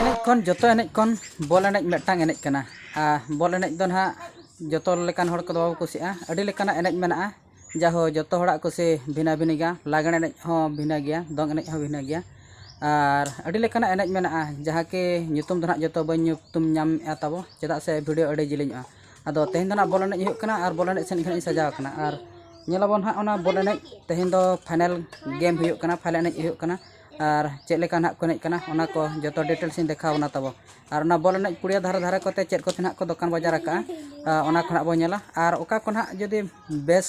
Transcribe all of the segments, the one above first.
ᱮᱱᱮᱡ ᱠᱷᱚᱱ ᱡᱚᱛᱚ ᱮᱱᱮᱡ ᱠᱷᱚᱱ ᱵᱚᱞ ᱮᱱᱮᱡ ᱢᱤᱫᱴᱟᱝ ᱮᱱᱮᱡ ᱠᱟᱱᱟ ᱟᱨ ᱵᱚᱞ ᱮᱱᱮᱡ ᱫᱚ ᱱᱟᱦᱟᱜ ᱡᱚᱛᱚ ᱞᱮᱠᱟᱱ ᱦᱚᱲ ᱠᱚᱫᱚ ᱵᱟᱠᱚ ᱠᱩᱥᱤᱭᱟᱜᱼᱟ ᱟᱹᱰᱤ ᱞᱮᱠᱟᱱᱟᱜ ᱮᱱᱮᱡ ᱢᱮᱱᱟᱜᱼᱟ ᱡᱟᱦᱳ ᱡᱚᱛᱚ ᱦᱚᱲᱟᱜ ᱠᱩᱥᱤ ᱵᱷᱤᱱᱟᱹ ᱵᱷᱤᱱᱟᱹ ᱜᱮᱭᱟ ᱞᱟᱜᱽᱬᱮ ᱮᱱᱮᱡ ᱦᱚᱸ ᱵᱷᱤᱱᱟᱹ ᱜᱮᱭᱟ ᱫᱚᱝ ᱮᱱᱮᱡ ᱦᱚᱸ ᱵᱷᱤᱱᱟᱹ ᱜᱮᱭᱟ ᱟᱨ ᱟᱹᱰᱤ ᱞᱮᱠᱟᱱᱟᱜ ᱮᱱᱮᱡ ᱢᱮᱱᱟᱜᱼᱟ ᱡᱟᱦᱟᱸ ᱠᱤ ᱧᱩᱛᱩᱢ ᱫᱚ ᱱᱟᱦᱟᱜ ᱡᱚᱛᱚ ᱵᱟᱹᱧ ᱧᱩᱛᱩᱢ ᱧᱟᱢᱮᱜᱼᱟ ᱛᱟᱵᱚ ᱪᱮᱫᱟᱜ ᱥᱮ ᱵᱷᱤᱰᱤᱭᱳ ᱟᱹᱰᱤ ᱡᱤᱞᱤᱧᱚᱜᱼᱟ ᱟᱫᱚ ᱛᱮᱦᱮᱧ ᱫᱚ ᱱᱟᱦᱟᱜ ᱵᱚᱞ ᱮᱱᱮᱡ ᱦᱩᱭᱩᱜ ᱠᱟᱱᱟ ᱟᱨ ᱵᱚᱞ ᱮᱱᱮᱡ ᱥᱮᱫ ᱜᱮᱞᱤᱧ ᱥᱟᱡᱟᱣ ᱠᱟᱱᱟ ᱟᱨ ᱧᱮᱞ ᱟᱵᱚᱱ ᱱᱟᱦᱟᱜ ᱚᱱᱟ ᱵᱚᱞ ᱮᱱᱮᱡ ᱛᱮᱦᱮᱧ ᱫᱚ ᱯᱷᱟᱭᱱᱮᱞ ᱜᱮᱢ ᱦᱩᱭᱩᱜ ᱠᱟᱱᱟ ᱯᱷᱟᱭᱱᱮᱞ ᱮᱱᱮᱡ ᱦᱩᱭᱩᱜ ᱠᱟᱱᱟ ᱟᱨ ᱪᱮᱫ ᱞᱮᱠᱟ ᱱᱟᱦᱟᱜ ᱠᱚ ᱮᱱᱮᱡ ᱠᱟᱱᱟ ᱚᱱᱟ ᱠᱚ ᱡᱚᱛᱚ ᱰᱤᱴᱮᱞᱥ ᱤᱧ ᱫᱮᱠᱷᱟᱣ ᱵᱚᱱᱟ ᱛᱟᱵᱚ ᱟᱨ ᱚᱱᱟ ᱵᱚᱞ ᱮᱱᱮᱡ ᱯᱩᱲᱤᱭᱟᱹ ᱫᱷᱟᱨᱮ ᱫᱷᱟᱨᱮ ᱠᱚᱛᱮ ᱪᱮᱫ ᱠᱚᱛᱮ ᱱᱟᱦᱟᱜ ᱠᱚ ᱫᱚᱠᱟᱱ ᱵᱟᱡᱟᱨ ᱟᱠᱟᱫᱼᱟ ᱚᱱᱟ ᱠᱚ ᱱᱟᱦᱟᱜ ᱵᱚᱱ ᱧᱮᱞᱟ ᱟᱨ ᱚᱠᱟ ᱠᱚ ᱱᱟᱦᱟᱜ ᱡᱩᱫᱤ ᱵᱮᱥ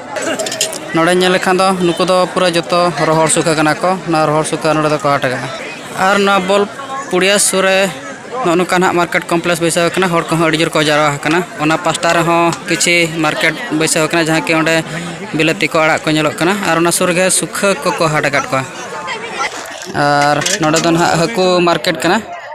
ᱱᱚᱰᱮ ᱧᱮᱞ ᱞᱮᱠᱷᱟᱱ ᱫᱚ ᱱᱩᱠᱩ ᱫᱚ ᱯᱩᱨᱟᱹ ᱡᱚᱛᱚ ᱨᱚᱦᱚᱲ ᱥᱩᱠᱷᱟᱹ ᱠᱟᱱᱟ ᱠᱚ ᱱᱚᱣᱟ ᱨᱚᱦᱚᱲ ᱥᱩᱠᱷᱟᱹ ᱱᱚᱰᱮ ᱫᱚᱠᱚ ᱦᱟᱴ ᱟᱠᱟᱫᱼᱟ ᱟᱨ ᱱᱚᱣᱟ ᱵᱚᱞ ᱯᱩᱲᱤᱭᱟ ᱥᱩᱨ ᱨᱮ ᱱᱚᱜᱼᱚ ᱱᱚᱝᱠᱟ ᱱᱟᱦᱟᱜ ᱢᱟᱨᱠᱮᱴ ᱠᱚᱢᱯᱞᱮᱠᱥ ᱵᱟᱹᱭᱥᱟᱹᱣ ᱟᱠᱟᱱᱟ ᱦᱚᱲ ᱠᱚᱦᱚᱸ ᱟᱹᱰᱤ ᱡᱳᱨ ᱠᱚ ᱡᱟᱣᱨᱟ ᱟᱠᱟᱱᱟ ᱚᱱᱟ ᱯᱟᱥᱴᱟ ᱨᱮᱦᱚᱸ ᱠᱤᱪᱷᱤ ᱢᱟᱨᱠᱮᱴ ᱵᱟᱹᱭᱥᱟᱹᱣ ᱟᱠᱟᱱᱟ ᱡᱟᱦᱟᱸ ᱠᱤ ᱚᱸᱰᱮ ᱵᱤᱞᱟᱹᱛᱤ ᱠᱚ ᱟᱲᱟᱜ ᱠᱚ ᱧᱮᱞᱚᱜ ᱠᱟᱱᱟ ᱟᱨ ᱚᱱᱟ ᱥᱩᱨ ᱨᱮᱜᱮ ᱥᱩᱠᱷᱟᱹ ᱠᱚᱠᱚ ᱦᱟᱴ ᱟᱠᱟᱫ ᱠᱚᱣᱟ ᱟᱨ ᱱᱚᱰᱮ ᱫᱚ ᱱᱟᱦᱟᱜ ᱦᱟᱹᱠᱩ ᱢᱟᱨᱠᱮᱴ ᱠᱟᱱᱟ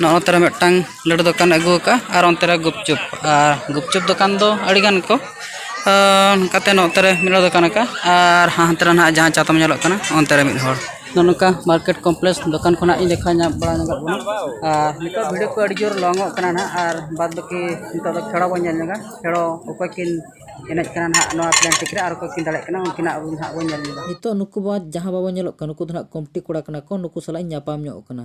ᱱᱚᱜᱼᱚ ᱛᱟᱨᱟ ᱢᱤᱫᱴᱟᱝ ᱞᱟᱹᱰᱩ ᱫᱚᱠᱟᱱ ᱟᱹᱜᱩ ᱟᱠᱟᱫᱼᱟ ᱟᱨ ᱚᱱᱛᱮ ᱨᱮ ᱜᱩᱯᱪᱩᱯ ᱟᱨ ᱜᱩᱯᱪᱩᱯ ᱫᱚᱠᱟᱱ ᱫᱚ ᱟᱹᱰᱤ ᱜᱟᱱ ᱠᱚ ᱚᱱᱠᱟᱛᱮ ᱱᱚᱛᱮ ᱨᱮ ᱢᱤᱫ ᱦᱚᱲ ᱫᱚᱠᱟᱱ ᱟᱠᱟᱫᱼᱟ ᱟᱨ ᱦᱟᱱᱛᱮ ᱨᱮ ᱱᱟᱦᱟᱜ ᱡᱟᱦᱟᱸ ᱪᱟ ᱛᱟᱢ ᱧᱮᱞᱚᱜ ᱠᱟᱱᱟ ᱚᱱᱛᱮ ᱨᱮ ᱢᱤᱫ ᱦᱚᱲ ᱱᱚᱜᱼᱚ ᱱᱚᱝᱠᱟ ᱢᱟᱨᱠᱮᱴ ᱠᱚᱢᱯᱞᱮᱠᱥ ᱫᱚᱠᱟᱱ ᱠᱷᱚᱱᱟᱜ ᱤᱧ ᱫᱮᱠᱷᱟᱣ ᱧᱟᱢ ᱵᱟᱲᱟ ᱧᱚᱜᱚᱜ ᱠᱟᱱᱟ ᱟᱨ ᱱᱤᱛᱚᱜ ᱵᱷᱤᱰᱤᱭᱳ ᱠᱚ ᱟᱹᱰᱤ ᱡᱳᱨ ᱞᱚᱝ ᱚᱜ ᱠᱟᱱᱟ ᱱᱟᱦᱟᱜ ᱟᱨ ᱵᱟᱫᱽ ᱵᱟᱹᱠᱤ ᱱᱤᱛᱚᱜ ᱫᱚ ᱠᱷᱮᱲᱚ ᱵᱚᱱ ᱧᱮᱞ ᱧᱚᱜᱟ ᱠᱷᱮᱲᱚ ᱚᱠᱚᱭ ᱠᱤᱱ ᱮᱱᱮᱡ ᱠᱟᱱᱟ ᱱᱟᱦᱟᱜ ᱱᱚᱣᱟ ᱯᱞᱮᱱ ᱴᱤᱠ ᱨᱮ ᱟᱨ ᱚᱠᱚᱭ ᱠᱤᱱ ᱫᱟᱲᱮᱭᱟᱜ ᱠᱟᱱᱟ ᱩᱱᱠᱤᱱᱟᱜ ᱟᱵᱚ ᱱᱟᱦᱟᱜ ᱵᱚᱱ ᱧᱮᱞ ᱧᱚᱜᱟ ᱱᱤᱛᱚᱜ ᱱᱩᱠᱩ ᱵᱟᱫᱽ ᱡᱟᱦᱟᱸ ᱵᱟᱵᱚᱱ ᱧᱮᱞᱚᱜ ᱠᱟᱱᱟ ᱱᱩᱠᱩ ᱫᱚ ᱱᱟᱦᱟᱜ ᱠᱚᱢᱤᱴᱤ ᱠᱚᱲᱟ ᱠᱟᱱᱟ ᱠᱚ ᱱᱩᱠᱩ ᱥᱟᱞᱟᱜ ᱤᱧ ᱧᱟᱯᱟᱢ ᱧᱚᱜ ᱟᱠᱟᱱᱟ